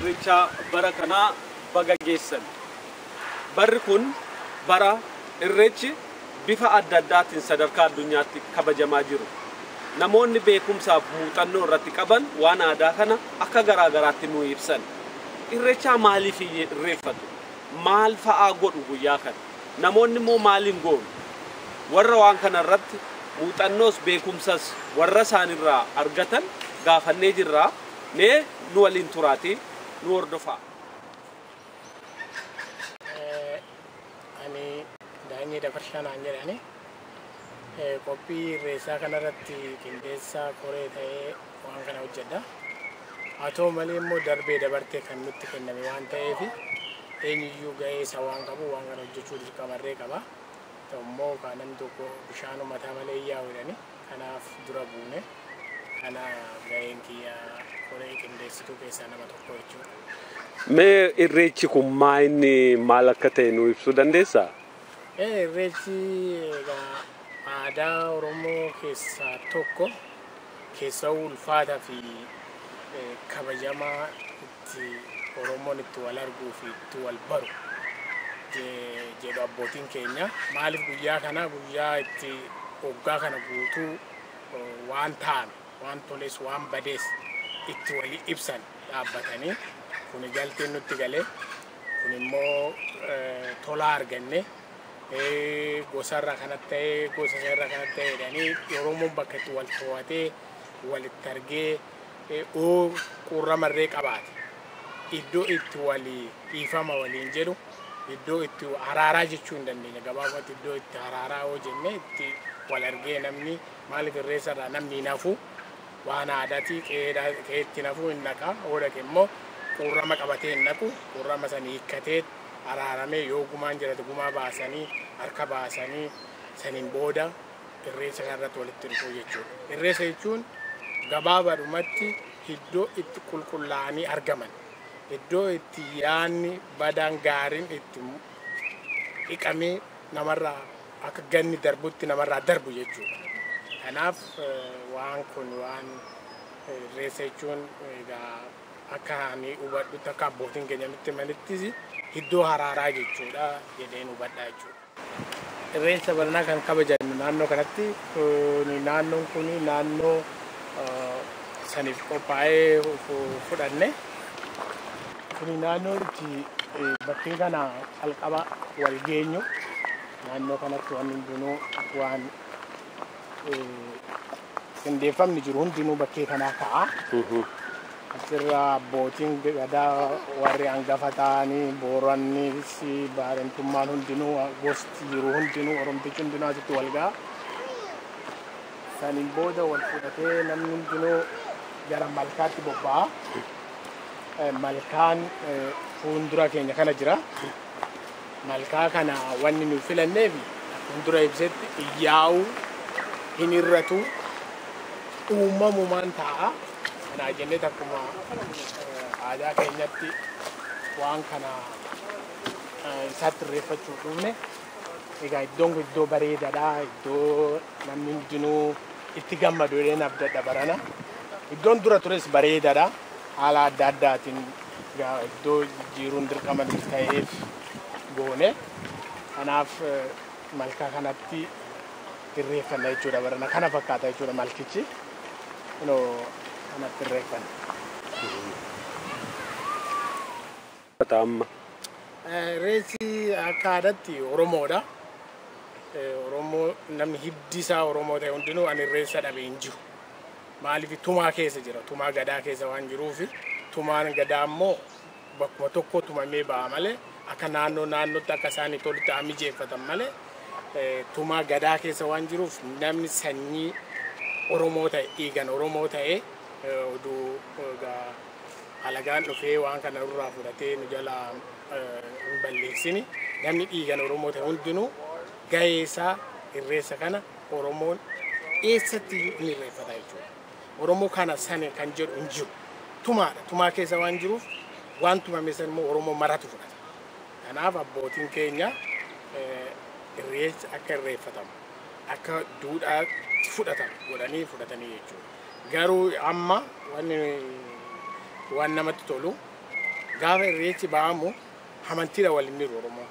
irreechaa bara kanaa baga geessan. Barri kun bara irreechi Bifa adda addaatiin sadarkaa addunyaatti kabajamaa jiru. Namoonni beekumsaaf muuxannoo irratti qaban waan aadaa kana akka garaa garaatti nuu ibsan. Irrechaa maaliif irreeffatu? Maal fa'aa godhu guyyaa kana? Namoonni immoo maal hin goonu? Warra waan kana irratti muuxannoos beekumsas warra isaani irraa argatan gaafannee jirra. Mee nu waliin turaatii nu hordofaa. Ani Daanyee Dabarshaa naan jedhani. Qophii irreessaa kanarratti qindeessaa koree ta'ee waan kana hojjedha. Haa ta'u malee immoo darbee dabartee kan nutti kenname waan ta'eef eenyuyyuu ga'ee isaa waan qabu waan kana hojjechuu dirqamarree qaba. Ta'u immoo kaa namni tokko bishaanuu mataa malee hin yaa'u jedhani. kanaaf dura buune. Kana gaheen kiyya koree qindeessituu keessaa nama tokko jechuudha. Mee irreechi kun maa inni maal akka ta'e nu ibsuu dandeessaa? Ee, Irreechi egaa aadaa Oromoo keessaa tokko keessaa ulfaataa fi eh, kabajamaa itti Oromoon itti wal arguu fi itti wal baru jedhu abbootiin keenya. Maaliif guyyaa kana guyyaa itti waggaa kana guutuu waan taa'ame waan toles waan badees itti walii ibsan dhaabbatanii kuni galteen nutti gale kun immoo tolaa arganne gosarra kanas ta'e gosa irra kanas ta'e jedhanii Oromoon bakka itti wal to'atee walitti argee o quurrama irree qabaate iddoo itti wali dhiifama waliin jedhu iddoo itti haraaraa jechuu hin dandeenye gabaabumatti iddoo itti haraaraa yoo jenne itti wal argee namni maaliif irreessa irraa namni hin hafu waan aadaati qe'eetti hin hafu hin dhaqa yoo dhaqe immoo quurrama qabatee hin dhaqu quurrama sana hiikkatee araaramee yoo gumaan jiraate gumaa baasanii harka baasanii saniin booda irreecha kanarratti walitti dhufuu jechuudha. Irreecha jechuun gabaabaadhumatti iddoo itti qulqullaa'anii argaman, iddoo itti yaadni badaan gaariin itti dhiqamee namarraa akka ganni darbutti namarraa darbu jechuudha. Kanaaf waan kun waan irreecha jechuun egaa akka ani hubadhutti akka abbootiin keenya nutti himanittis iddoo haraaraa jechuudha jedheen hubadha jechuudha. Irreecha baranaa kan kabajan naannoo kanatti naannoon kun naannoo saniif qophaa'ee fudhanne. Kuni naannoo itti bakkee kana calqaba wal geenyu naannoo kanatti waan hundinuu waan qindeeffamni jiru hundinuu bakkee kanaa ka'a. Achirra abbootiin gadaa warri hangafa ta'anii boorannis baarentummaan hundinuu gosti jiru hundinuu oromtichi hundinuu asitti wal ga'a. Saniin booda wal fudhatee namni hundinuu gara malkaatti bobba'a. Malkaan fuundura keenya kana jira. Malkaa kana wanni nu filanneef akkuma dura ibsetti iyyaa'uu hin irratu uumamumaan taa'a. Kanaa jennee akkuma aadaa keenyatti waan kana isaatti irreeffachuuf dhufne. Egaa iddoon kun iddoo bareedaadha. Iddoo namni hundinuu itti gammadu jedheen abdadha barana. Iddoon dura tures bareedaadha. haala adda addaatiin egaa iddoo jijjiiruun dirqama nuti ta'eef goone. Kanaaf malkaa kanatti irreeffanna jechuudha barana. Kana fakkaata jechuudha malkichi. Kunoo kanatti irreeffanna. fata amma. Irreechi akka aadatti Oromoodha. Oromoo namni hiddi isaa Oromoo ta'e hundinuu an irreessa dhabe hin jiru. Maaliif tumaa keessa jira. Tumaa gadaa keessa waan jiruufi tumaan gadaa immoo bakkuma tokko tumamee ba'a malee akka naannoo naannootti akka isaanii tolutti haa mijeeffatan malee tumaa gadaa keessa waan jiruuf namni sanyii Oromoo ta'e dhiigan Oromoo ta'e oduu Alagaan dhufee waan kana nurraa fudhatee nu jalaa hin balleessini. Namni dhiigan Oromoo ta'e hundinuu gahee isaa irreessa kana Oromoon eessatti iyyuu hin irreeffata jechuudha. Oromoo kana sane kan jedhu hin jiru. Tumaadha. Tumaa keessa waan jiruuf waan tumame san immoo Oromoo maratu fudhata. Kanaaf abbootiin keenya irreessa akka irreeffatamu akka duudhaatti fudhatamu godhanii fudhatanii jechuudha. Garuu amma wanni waan namatti tolu gaafa irreechi ba'amu amantiidha wal hin hiru Oromoon.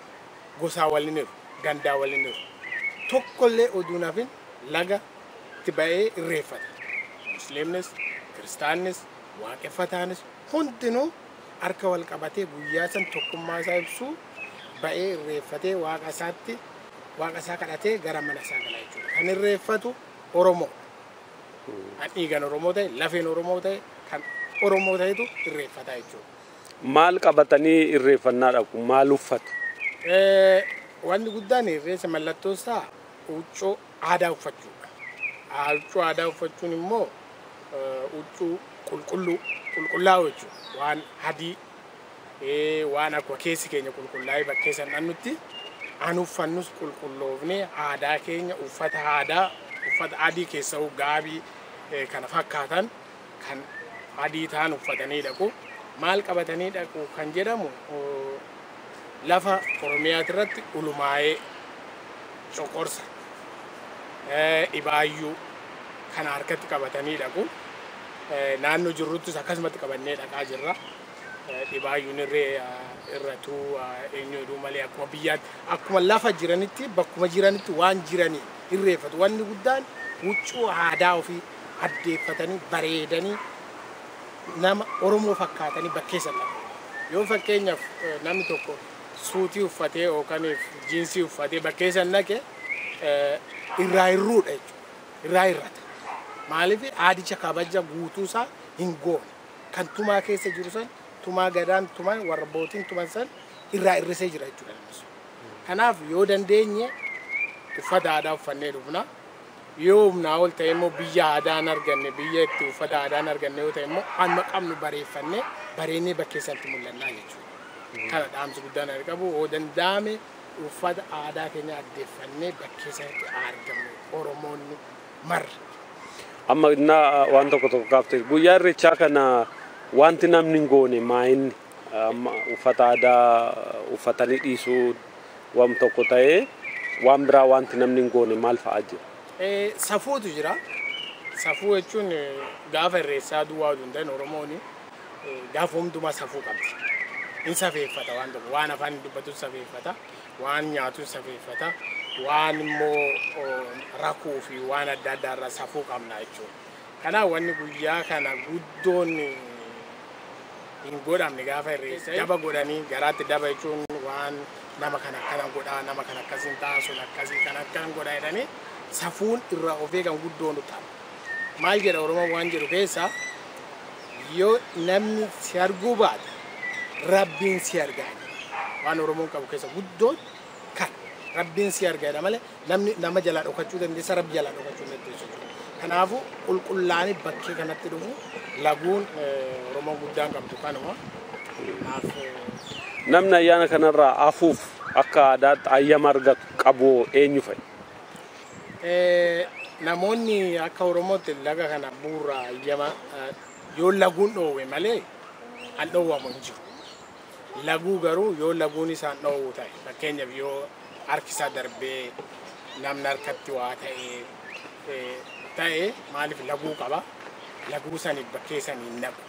Gosaa wal hin hiru, gandaa wal hin hiru. Tokkollee oduu hin hafin laga itti ba'ee irreeffata. Musliimnis, Kiristaannis, Waaqeffataanis hundinuu harka wal qabatee guyyaa san tokkummaa isaa ibsuu ba'ee irreeffatee waaqa isaatti waaqa isaa kadhatee gara mana isaa gala jechuudha. Kan irreeffatu Oromoo. Kan dhiigan Oromoo ta'e, lafeen Oromoo ta'e, kan Oromoo ta'etu irreeffata jechuudha. Maal qabatanii irreeffannaa dhaqu? Maal uffatu? Eh, Wanti guddaan irreessa mallattoo isaa huccuu aadaa uffachuudha. Ah, Huccuu aadaa uffachuun immoo eh, huccuu qulqulluu, qulqullaa'oo jechuudha. Waan adii Waan akkuma keessi keenya qulqullaa'ee bakkee san dhannutti an uffannus qulqulloofnee aadaa keenya uffata aadaa uffata adii keessa'u gaabii eh, kana fakkaatan kan adii ta'an uffatanii dhaqu. Maal qabatanii dhaqu kan jedhamu oh, lafa Oromiyaati irratti ulumaa'ee coqorsa eh, dhibaayyuu kana harkatti qabatanii dhaqu. Eh, Naannoo jirruttis akkasumatti qabannee dhaqaa jirra. dhibaayyuun irree irratu eenyu jedhuu malee akkuma biyyaatti akkuma lafa jiranitti bakkuma jiranitti waan jiranii irreeffatu. Wanni guddaan huccuu aadaa ofii addeeffatanii bareedanii nama Oromoo fakkaatanii bakkeessa lafa. Yoo fakkeenyaaf namni tokko suutii uffatee yookaan jiinsii uffatee bakkeessa naqe irraa hirruudha jechuudha. Irraa hirrata. Maaliif aadicha kabaja guutuusaa hin goone. kan tumaa keessa jiru san tumaa gadaan tuman warra bootiin tuman san irraa irrisee jira jechuudha namni sun. Kanaaf yoo dandeenye uffata aadaa uffannee dhufna. Yoo humnaa ol ta'e immoo biyya aadaa hin arganne biyya itti uffata aadaa hin arganne yoo ta'e immoo amma qabnu bareeffannee bareennee bakkee sanatti mul'annaa jechuudha. Kana dhaamsi guddaan ani qabu yoo danda'ame uffata aadaa keenya addeeffannee bakkee sanatti haa argamnu Oromoonni Mar. Amma innaa waan tokko tokko kaafte guyyaa irreechaa kana wanti namni hin goone maayinni amma uffata aadaa uffatanii dhiisuu waan tokko ta'ee waan biraa wanti namni hin goone maal fa'aa jira? Eh, Safuutu jira. Safuu jechuun eh, gaafa irreessaa duwwaa utuu hin ta'in Oromoon eh, gaafa hundumaa safuu qabdi. Hin safeeffata waan tokko waan afaan hin dubbatus safeeffata. Waan nyaatu safeeffata. Waan immoo rakuu fi waan adda addaa irra safuu qabna jechuudha. Kanaaf wanni guyyaa kana guddoon hin godhamne gaafa irreessa daba godhanii garaatti daba jechuun waan nama kana akkana godhaa nama kana akkasiin ta'a sun akkasii kan akkana godhaa jedhanii safuun irraa of eegan guddoon ta'a. Maal jedha Oromoon waan jedhu keessaa Yoo namni si arguu baate Rabbiin si arga jedha. Waan Oromoon qabu keessa guddoon kana. Rabbiin si arga jedha malee namni nama jalaa dhokachuu dandeessa Rabbi jalaa dhokachuu hin dandeessu jechuudha. Kanaafuu qulqullaa'anii bakkee kanatti dhufu laguun eh, Oromoon guddaan qabdu kanuma. Kanaaf eh, Namni ayyaana kanarraa hafuuf akka aadaatti ayyama argatu qabu eenyu fa'i? Namoonni akka Oromootti laga kana bu'uura hayyama yoo laguun dhoowwe malee an dhoowwamu hin jiru. Laguu garuu yoo laguun isaan dhoowwu ta'e fakkeenyaaf yoo harkisaa darbee namni harkatti waa ta'e ta'e maaliif laguu qaba. Laguu saniif bakkee sanii hin naqu.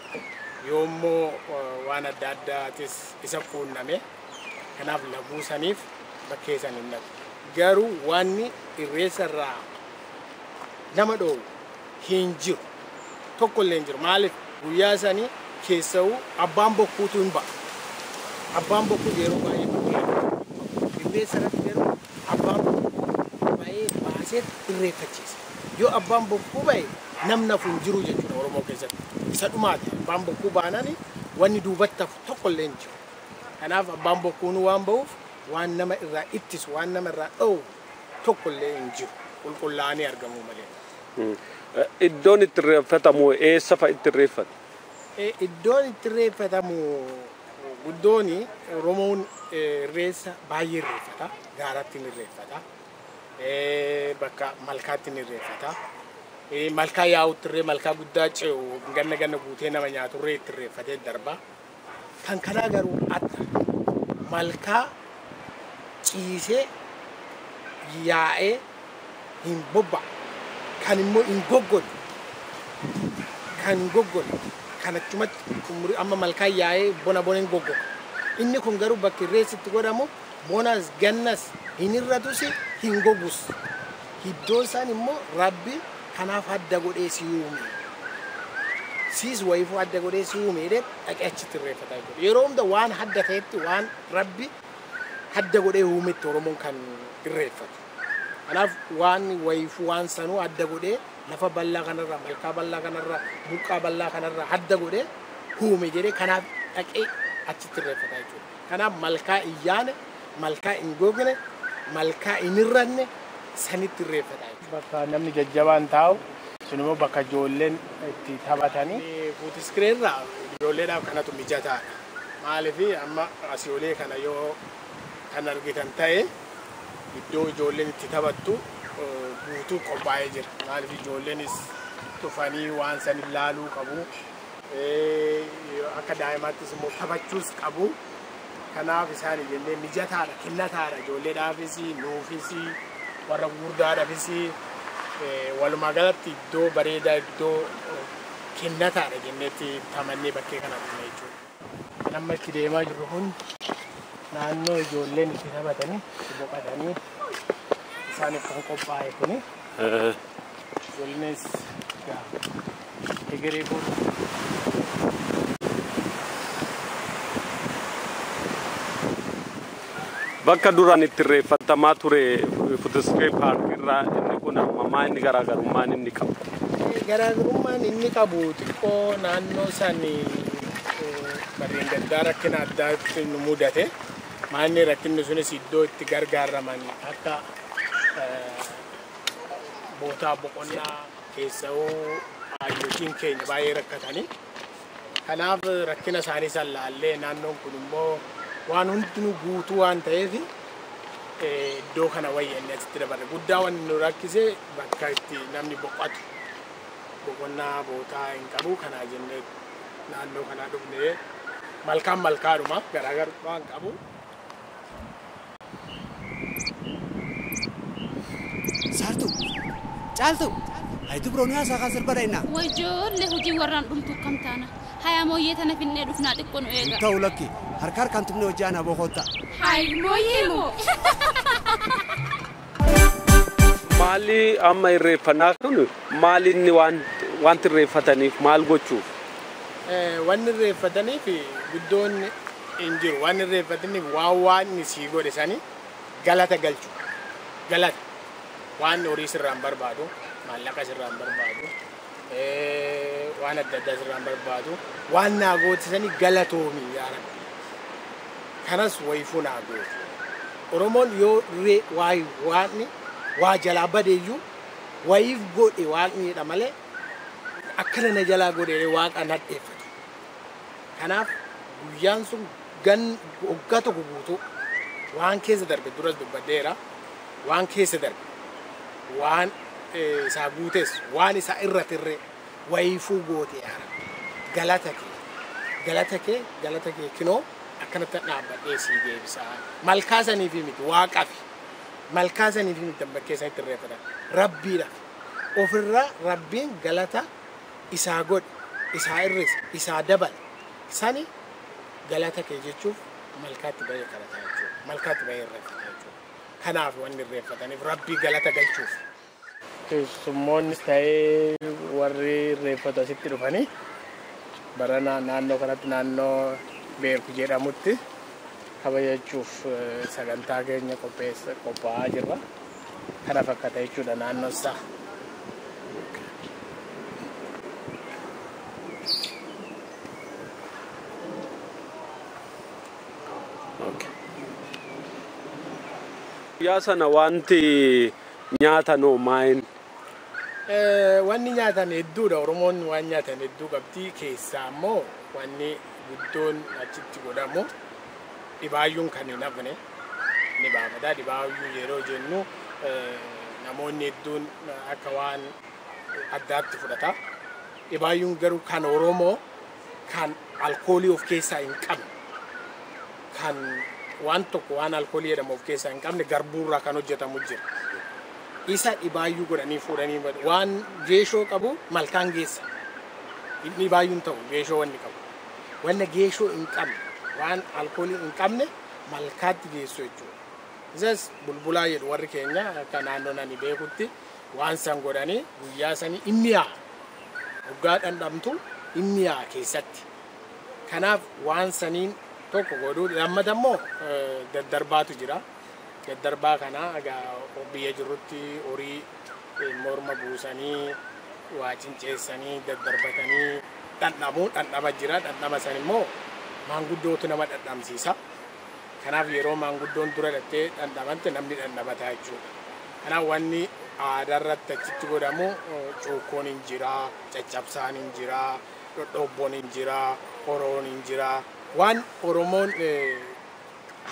Yoo immoo waan adda addaatis isa quunname kanaaf laguu saniif bakkee san hin naqu. Garuu wanni irreessa irraa nama dhoowwu hin jiru. Tokko illee hin jiru. Maaliif? Guyyaa sanii keessawuu abbaan bokkuutu hin ba'a. Abbaan bokkuu yeroo baay'ee bakkee hin bahu. Irreessa irratti garuu abbaan bokkuu ba'ee baaseet irreeffachiisa. Yoo abbaan bokkuu ba'e namni hafu hin jiru jechuudha Oromoo keessatti. Isa dhumaati. Abbaan bokkuu baanani wanni duubatti hafu tokko illee hin jiru. Kanaaf abbaan bokkuunuu waan bahuuf Waan nama irraa ittisu, waan nama irraa dhoowwu tokko illee hin jiru, qulqullaa'anii argamuu malee. Iddoon itti irreeffatamu eessa fa'a itti irreeffatu? Iddoon itti irreeffatamu guddoon Oromoon irreessa baay'ee irreeffata. Gaaratti ni irreeffata. Bakka malkaatti ni irreeffata. Malkaa yaa'utti irree malkaa guddaa ce'u ganna ganna guutee nama nyaatu irree itti irreeffatee darba. Kan kanaa garuu adda. Malkaa ciisee yaa'ee hin bobba'u. Kan immoo hin goggole. Kan hin goggole. Kan achumatti xumuri amma malkaan yaa'ee bona bona hin goggoga. Inni kun garuu bakki irreessi itti godhamu Monas gannas hin hir'atusi hin gogus. Hiddoon saan immoo Rabbi kanaaf adda godhee si uume. Siis wayifuu adda godhee si uume jedhee dhaqee achitti irreeffata jechuudha. Yeroo hunda waan hadda ta'etti waan Rabbi hadda godhee uumetti Oromoon kan irreeffatu. Kanaaf waan wayifuu waan sanuu adda godhee lafa bal'aa kanarra malkaa bal'aa kanarra burqaa bal'aa kanarra hadda godhee uume jedhee kanaaf dhaqee achitti irreeffata jechuudha. Kanaaf malkaa hin yaane, malkaa hin gogne, malkaa hin hir'anne sanitti irreeffata. Bakka namni jajjabaan taa'u, sun immoo bakka ijoolleen itti taphatani. Fuutiskiree irra ijoolleedhaaf kanatu mijataadha. Maaliif amma asii olee kana yoo kan argitan ta'e iddoo ijoolleen itti taphattu guutuu qophaa'ee jira. Maaliif ijoolleenis dhufanii waan san ilaaluu qabu. akka daa'imaattis immoo taphachuus qabu. Kanaaf isaan jennee mijataadha, kennataadha ijoolleedhaafis, nuufis, warra gurguddaadhaafis walumaa galatti iddoo bareedaa iddoo kennataadha jenneetti tamannee bakkee kana dhufne jechuudha. Kan amma itti deemaa jirru kun naannoo ijoolleen itti taphatanii itti boqatanii isaaniif kan qophaa'e kuni wellness gaa egeree kun Bakka duraan itti irreeffattamaa ture Footisfee Paark irraa inni kun ammamaa inni garaagarummaan inni qabu. Garaagarummaan inni qabu xiqqoo naannoo san barreen gaddaa rakkina addaatti nu mudate. Maanni rakkinni sunis iddoo itti gargaaraman akka bootaa boqonnaa keessawuu hayyootiin keenya baay'ee rakkatanii. Kanaaf rakkina isaanii san laallee naannoon kun immoo waan hundinuu guutuu waan ta'eef iddoo kana wayya inni asitti dabarre. Guddaa wanni nu rakkise bakka itti namni boqotu boqonnaa bootaa hin qabu kanaa jennee naannoo kanaa dhufne malkaan malkaadhuma garaagarummaa hin qabu. Saartuu! Caaltuu! Hay dubroo nu yaasaa kaa sirbadha innaa. Way joollee hujii warraan dhumtu akkam taana? Hayaa mooyyee tana finnee dhufnaa xiqqo nu Hin eegaa. ta'u lakki. Harka harkaan tumnee hojjaan aboo koottaa. Hay mooyyee moo. Maalli amma irreeffannaa kun maal inni waan wanti irreeffataniif maal gochuuf? Wanni irreeffataniif guddoon hin jiru. Wanni irreeffataniif waan waaqni sii godhe sani galata galchu. Galata. Waaqni horii sirraa hin barbaadu, maallaqa sirraa hin barbaadu. waan adda addaa sirraan barbaadu waan naa gootisanii galatoomi yaa rabbi kanas wayifuu naa goote oromoon yoo ree waay waaqni waa jalaa badeeyyuu wayiif godhe waaqni jedha malee akkana na jalaa godhe waaqa nadheeffatu kanaaf guyyaan sun gan waggaa tokko guutuu waan keessa darbe duras dubbadheera waan keessa darbe, waan isaa guutes, waan isaa irra tirree wayiifuu goote yaa Rabbi. Galata kee, galata kee, galata kee kinoo akkanatti dhaabbadhee sii deebisaa. Malkaa saniifii miti waaqafi. Malkaa saniifii miti kan bakkee sanitti irreeffatan. Rabbiidhaaf. Ofirra Rabbiin galata isaa godhe, isaa irrise, isaa dabale. Sani galata kee jechuuf malkaatti bahee kadhataa jechuudha. Malkaatti bahee irreeffata jechuudha. kanaaf wanni irreeffataniif rabbii galata galchuuf. Keessummoonnis ta'ee warri irreeffatu asitti dhufanii barana naannoo kanatti naannoo beeku jedhamutti kabajachuuf sagantaa keenya qopheessa qophaa'aa jirra. Kana fakkata jechuudha naannoon isaa. Guyyaa sana wanti nyaatan hoo maayini? Wanni nyaatan hedduudha. Oromoon waan nyaatan hedduu qabdi. Keessaa immoo wanni guddoon achitti godhamu dhibaayyuun kan hin hafne ni baafata. Dhibaayyuu yeroo jennu namoonni hedduun akka waan addaatti fudhata. Dhibaayyuun garuu kan Oromoo kan alkoolii of keessaa hin qabne, kan waan tokko waan alkoolii jedhamu of keessaa hin qabne garbuurraa kan hojjetamu jira. Isa dhibaayyuu godhanii fuudhanii badu. Waan geeshoo qabu malkaan geessa. Inni dhibaayyuu hin ta'u geeshoo wanni qabu. Wanna geeshoo hin qabne, waan alkoolii hin qabne malkaatti geessu jechuudha. Isas bulbulaa jedhu warri keenya akka naannoon ani beekutti. Waan san godhanee guyyaa sanii hin miyaa'a. Hoggaa dhandhamtu hin miyaa'a keessatti. Kanaaf waan saniin tokko godhuu lammata immoo daddarbaatu jira. Daddarbaa kana egaa biyya jirrutti horii morma buusanii waa cinceessanii daddarbatanii dhandhamu. Dhandhama jira. Dhandhama san immoo maanguddootu nama dhandhamsiisa. Kanaaf yeroo maanguddoon dura dhattee dhandhamante namni dhandhamataa jechuudha. Kanaaf wanni aadaa irratti achitti godhamu cuukkoon hin jira, caccabsaan hin jira, dhodhoobboon hin jira, horoon hin jira. Waan Oromoon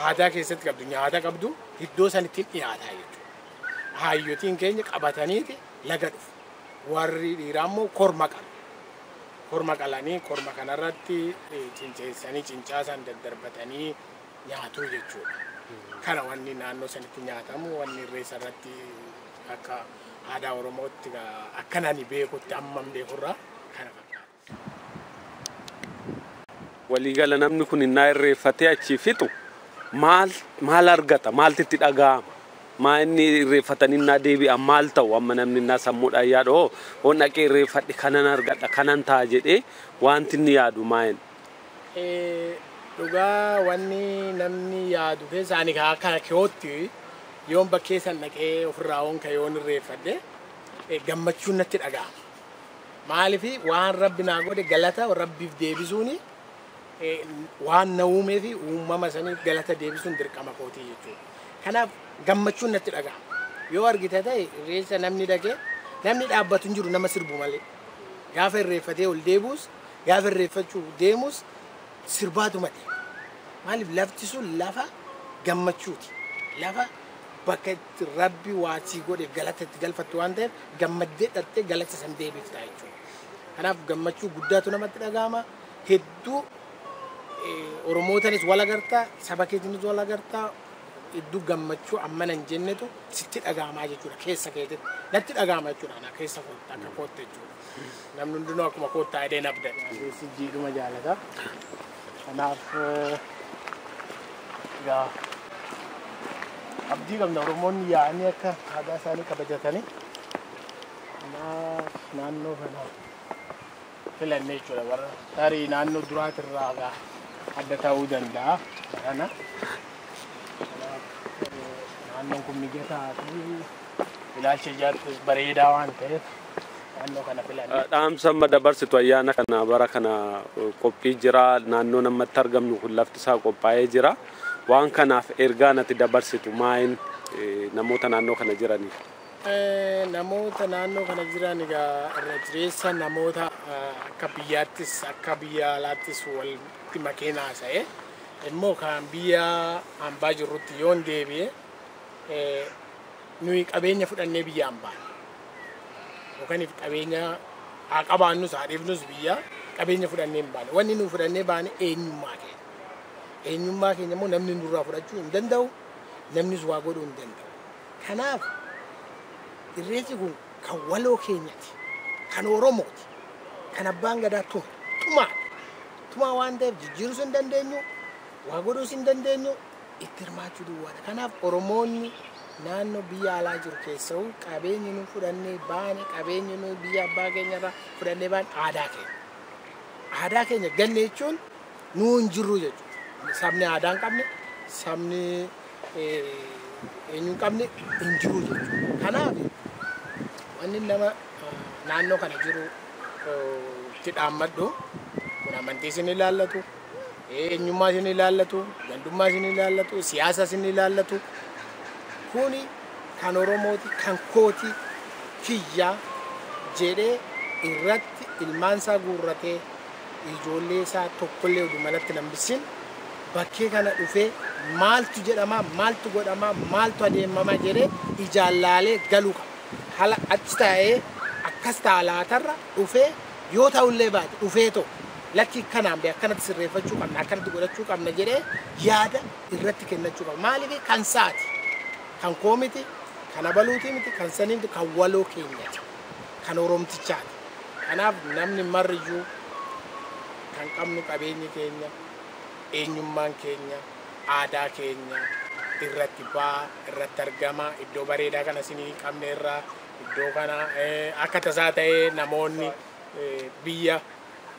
aadaa keessatti qabdu nyaata qabdu iddoo sanitti hin dhiyaataa jechuudha. Haayyotiin keenya qabataniiti laga dhufu. Warri dhiiraa immoo korma qabu. korma qalanii korma kanarratti cinceessanii cincaa san daddarbatanii nyaatuu jechuudha. Kana wanni naannoo sanitti nyaatamu wanni irreessa irratti akka aadaa Oromootti akkan ani beekutti amman beekurraa kana fakkaata. Waliigala namni kun innaa irreeffatee achii fixu maal maal argata? Maaltu itti dhaga'ama? Maa inni irreeffatan innaa deebi'an maal ta'u? Amma namni innaa sammuudhaan yaadu hoo yoon dhaqee irreeffadhe kanan argadha, kanan ta'a jedhee waanti inni yaadu maa inni? Dhugaa wanni namni yaadu keessa ani kaa akka kiyootti yoon bakkee san dhaqee ofirraa yoon ka'e yoon irreeffadhe eh, gammachuun natti dhaga'ama. Maaliif waan rabbi naa godhe galata rabbiif deebisuuni waan na uumee fi uumama saniif galata deebisuun dirqama kootii jechuudha. Kanaaf gammachuun natti dhaga'ama. Yoo argite ta'e irreessa namni dhaqee namni dhaabbatu hin jiru nama sirbu malee. Gaafa irreeffatee ol deebi'us gaafa irreeffachuu deemus sirbaatuma deema. Maaliif lafti sun lafa gammachuuti. Lafa bakka itti rabbi waa sii godheef galata itti galfattu waan ta'eef gammaddee dhattee galata san deebifta jechuudha. Kanaaf gammachuu guddaatu namatti dhaga'ama. heddu oromootanis wal agarta saba keetinis wal agarta heddu gammachuu ammana hin jennetu sitti dhaga'amaa jechuudha keessa keetitti natti dhaga'ama jechuudha ana keessa kootti akka kootti jechuudha namni hundinuu akkuma koottaa jedhee nabda keessi jiidhuma jaalata kanaaf yaa abdii qabna oromoonni yaa'anii akka aadaa isaanii kabajatanii kanaaf naannoo kanaa filanne jechuudha. Warra tarii naannoo duraatirraa egaa adda ta'uu danda'a barana. Kanaaf, eh, Naannoon kun mijataa fi ilaalcha ijaarsaas bareedaa waan ta'eef naannoo kana filanne. Dhaamsa amma dabarsitu ayyaana kana bara kana eh, qophii jira naannoon amma itti argamnu kun lafti isaa qophaa'ee jira waan kanaaf ergaan ati dabarsitu maayin eh, namoota naannoo kana jiraniif. Namoota naannoo kana jiran egaa irra jireessa namoota akka biyyaattis akka biyya alaattis walitti makeen haasa'e immoo kan biyya hambaa jirrutti yoon deebi'e nuyi qabeenya fudhannee biyya hambaa yookaan qabeenya haa qabaannus haa dhiifnus biyya qabeenya fudhannee hin baane wanni nu fudhannee baane eenyummaa keenya eenyummaa keenya immoo namni nurraa fudhachuu hin danda'u namnis waa godhuu hin danda'u. Kanaaf Irreechi kun kan waloo keenyati. Kan Oromooti. Kan Abbaan Gadaa tume. Tumaa dha. Tumaa waan ta'eef jijjiiruus hin dandeenyu, waa godhuus hin dandeenyu, itti hirmaachuu duwwaa dha. Kanaaf Oromoonni naannoo biyya alaa jiru keessawuu qabeenyi nu fudhannee baane, qabeenyi nu biyya abbaa keenya irraa fudhannee baane aadaa keenya. Aadaa keenya ganne jechuun nuu hin jirru jechuudha. Sabni aadaa hin qabne, sabni eenyu hin qabne hin jiru jechuudha. Kanaaf wanni nama naannoo kana jiru itti dhaammadhu kun amantii isin ilaallatu, eenyummaa isin ilaallatu, gandummaa isin ilaallatu, siyaasa isin ilaallatu kuni kan Oromooti, kan kooti, kiyya jedhee irratti ilmaan isaa guurratee ijoollee isaa tokkollee udu manatti nan bissin bakkee kana dhufee maaltu jedhamaa maaltu godhamaa maaltu adeemamaa jedhee ijaan laalee galuu qaba. Hala achi taa'ee akkas ta'a laatarra dhufee yoo ta'ullee baate dhufee too lakkii kanaan bee akkanatti sirreeffachuu qabna akkanatti godhachuu qabna jedhee yaada irratti kennachuu qaba. Maaliif kan saati kan koo miti kan abaluutii miti kan sanii miti kan waloo keenyati. kan Oromtichaati. Kanaaf namni marri iyyuu kan qabnu qabeenyi keenya, eenyummaan keenya, aadaa keenya irratti ba'a, irratti argama. Iddoo bareedaa kana isin hin qabne irraa iddoo kana akka tasaa ta'ee namoonni biyya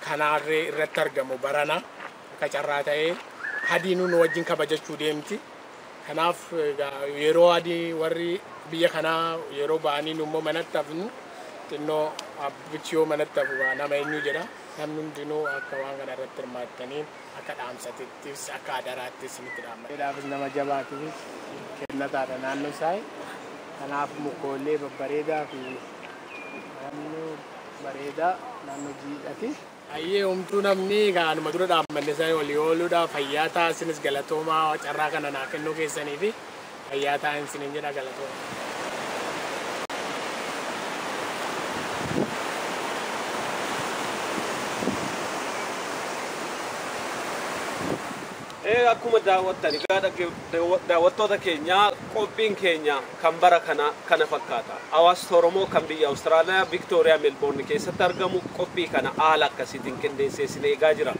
kanaarree irratti argamu barana. Akka carraa ta'ee Hadiinuu nu wajjin kabajachuu deemti. Kanaaf egaa yeroo adii warri biyya kanaa yeroo ba'anii nu immoo manatti hafnu xinnoo abbichi yoo manatti hafu gaa nama eenyu jedha. Namni hundinuu akka waan kana irratti hirmaattaniif akka dhaamsatittis akka adaraatti isinitti dhaamna. Jedhaafis nama jabaatiifis kennataadha naannoo saai. Kanaaf mukoollee babbareedaa fi naannoo bareedaa naannoo jiidhati. Hayyee homtuu namni egaa anuma dura dhaabbanne sana walii ooluudha fayyaa ta'a isinis galatoomaa carraa kana naa kennuu keessanii fi fayyaa ta'a isiniin jedha galatooma. Ee akkuma daawwattan egaa daawwattoota keenya qophiin keenya kan bara kana kana fakkaata. Hawaasni Oromoo kan biyya Awustiraaliyaa Viktooriyaa Melbourne keessatti argamu qophii kana haala akkasiitiin qindeessee isin eegaa jira.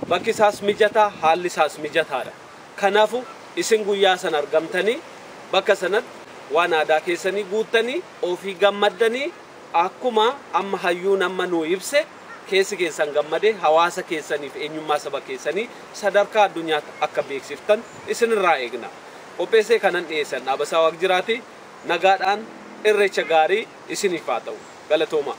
Bakki isaas mijataa haalli isaas mijataadha. Kanaafu isin guyyaa sana argamtanii bakka sanatti waan aadaa keessanii guuttanii ofii gammaddanii akkuma amma hayyuun amma nuu ibse Keessi keessan gammadee hawaasa keessanii fi eenyummaa saba keessanii sadarkaa addunyaatti akka beeksiftan isin irraa eegna. Qopheessee kanan dhiyeesse an Dhaabasaa Waaqjiraati. Nagaadhaan Irreecha gaarii isiniif haa ta'u. Galatoomaa.